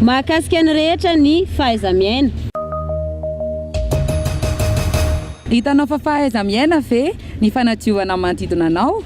Mahakasika ny rehetra ny fahaiza-miaina. Hitanao fa fahaiza-miaina ve ny fanadiovana ny manodidina anao?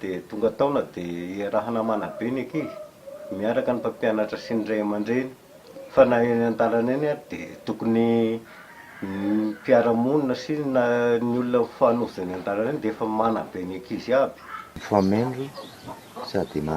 Dia tonga taona dia iarahana manabe ny ankizy miaraka ny mpampianatra sy ny ray aman-dreny fa na eny an-dalana eny ary dia tokony ny mpiara-monina sy na ny olona mifanojo eny an-dalana eny dia efa manabe ny ankizy aby. Fa main ry sady na.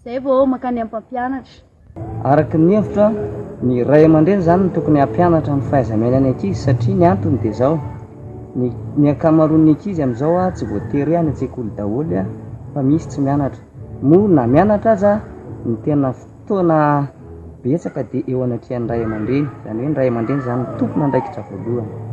Izay vao mankany amin'ny mpampianatra. Araka ny hevitro an, ny ray aman-dreny izany no tokony hampianatra ny fahaiza-miainan'ny ankizy satria ny antony dia izao, ny ny ankamaroan'ny ankizy amin'izao an tsy voatery any an-tsekoly daholo an fa misy tsy mianatra, moa na mianatra aza ny tena fotoana betsaka dia eo anatrehan'ny ray aman-dreny, izany hoe ny ray aman-dreny izany no tompon'andraikitra voalohany.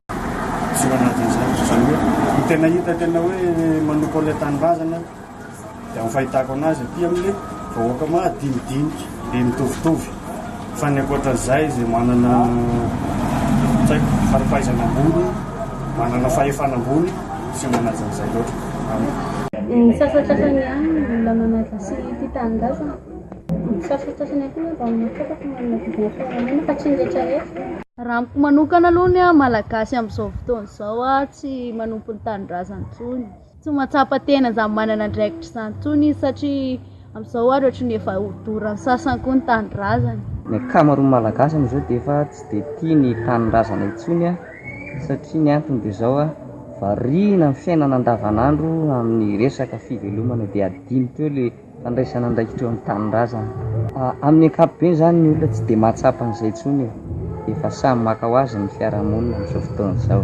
Tsy ho anatin'izany, izany hoe ny tena hita tena hoe manompo an'ilay tanindrazana dia amin'ny fahitako anazy aty amin'ny vahoaka madinidinika be mitovitovy fa ny ankoatran'izay izay manana tsy haiko fari-pahaizana ambony manana fahefana ambony tsy manaja an'izay loatra amiko. Ny sasantsasany ihany no olona manaja sy tia tanindrazana. Ny sasantsasany ihany koa angamba no mahatsapa fa manana vina amin'ny fiaraha-monina fa tsy ny rehetra rehetra. Raha amiko manokana aloha ny an malagasy amin'izao fotoana izao an tsy manompo ny tanindrazany intsony, tsy mahatsapa tena izany manana andraikitra izany intsony izy satria amin'izao ary ohatran'ny efa ho doran'ny sasany koa ny tanindrazany. Ny ankamaroan'ny malagasy amin'izao dia efa tsy dia tia ny tanindrazana intsony an satria ny antony dia izao an variana amin'ny fiainana andavan'andro amin'ny resaka fivelomana dia adino teo ilay fandraisana andraikitra eo amin'ny tanindrazana. Amin'ny ankapobeny izany ny olona tsy dia mahatsapa an'izay intsony e! Efa samy maka ho azy ny fiarahamonina amin'izao fotoana izao.